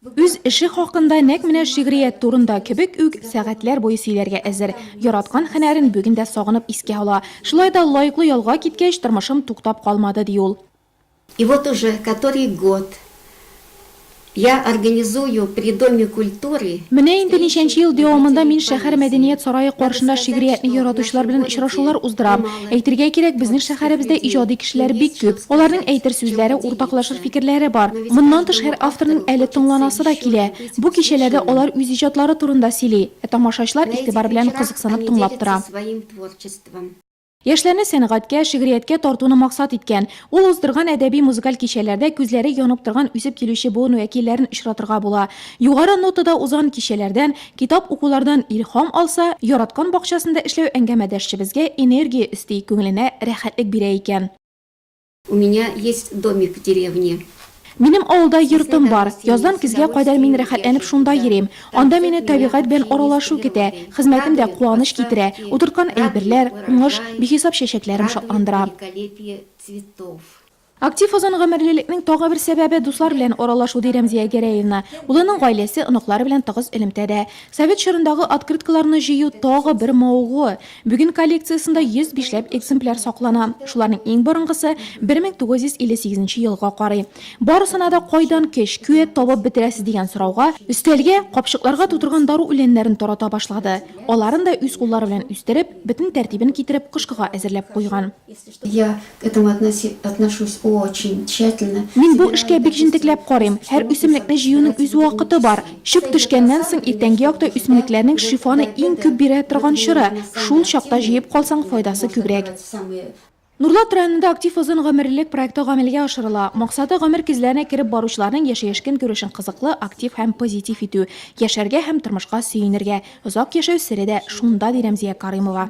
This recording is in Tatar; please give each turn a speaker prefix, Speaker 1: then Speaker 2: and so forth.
Speaker 1: Үз эше хакында нәк менә шигърият турында кебек үк сәгатьләр буе сөйләргә әзер. Яраткан һөнәрен бүген дә сагынып искә ала. Шулай да лаеклы ялга киткәч, тормышым туктап калмады, ди ул. И вот уже
Speaker 2: который год я организую при Доме культуры. Менә инде ничәнче
Speaker 1: ел дәвамында мин шәһәр мәдәният сарае каршында шигъриятне яратучылар белән очрашулар уздырам. Әйтергә кирәк, безнең шәһәребездә иҗади кешеләр бик күп. Аларның әйтер сүзләре, уртаклашыр фикерләре бар. Моннан тыш, һәр авторның әле тыңланасы да килә. Бу кичәләрдә алар үз иҗатлары турында сөйли, ә тамашачылар игътибар белән кызыксынып тыңлап тора. Яшьләрне сәнгатькә, шигърияткә тартуны максат иткән, ул уздырган әдәби-музыкаль кичәләрдә күзләре янып торган үсеп килүче буын вәкилләрен очратырга була. Югары нотада узган кичәләрдән, Китап укулардан илһам алса, яраткан бакчасында эшләү әңгәмәдәшчебезгә энергия өсти, күңеленә рәхәтлек бирә икән. У
Speaker 2: меня есть домик в деревне. Минем авылда
Speaker 1: йортым бар. Яздан көзгә кадәр мин рәхәтләнеп шунда йөрим. Анда мине табигать белән аралашу көтә, хезмәтем дә куаныч китерә. Утырткан әйберләр, уңыш, бихисап чәчәкләрем шатландыра. Актив озын гомерлелекнең тагы бер сәбәбе, дуслар белән аралашу, ди Рәмзия Гәрәевна. Улының гаиләсе, оныклары белән тыгыз элемтәдә. Совет чорындагы открыткаларны җыю, тагы бер мавыгуы. Бүген коллекциясендә 105 ләп экземпляр саклана. Шуларның иң борынгысы 1958 нче елга карый. Барысына да кайдан көч, куәт табып бетерәсез дигән сорауга, өстәлгә, капчыкларга тутырган дару үләннәрен тарата башлады. Аларын да үз куллары белән үстереп, бөтен тәртибен китереп, кышкыга әзерләп куйган. Я к
Speaker 2: этому относи, отношусь очень тщательно. Мин бу эшкә бик
Speaker 1: җентекләп карыйм. Һәр үсемлекне җыюның үз вакыты бар. Чүп төшкәннән соң иртәнге якта үсемлекләрнең шифаны иң күп бирә торган чоры. Шул чакта җыеп калсаң, файдасы күбрәк. Нурлат районында актив озын гомерлелек проекты гамәлгә ашырыла. Максаты, гомер кизләренә кереп баручыларның яшәеш-көнкүрешен кызыклы, актив һәм позитив итү. Яшәргә һәм тормышка сөенергә. Озак яшәү сере дә шунда, ди Рәмзия Карыймова.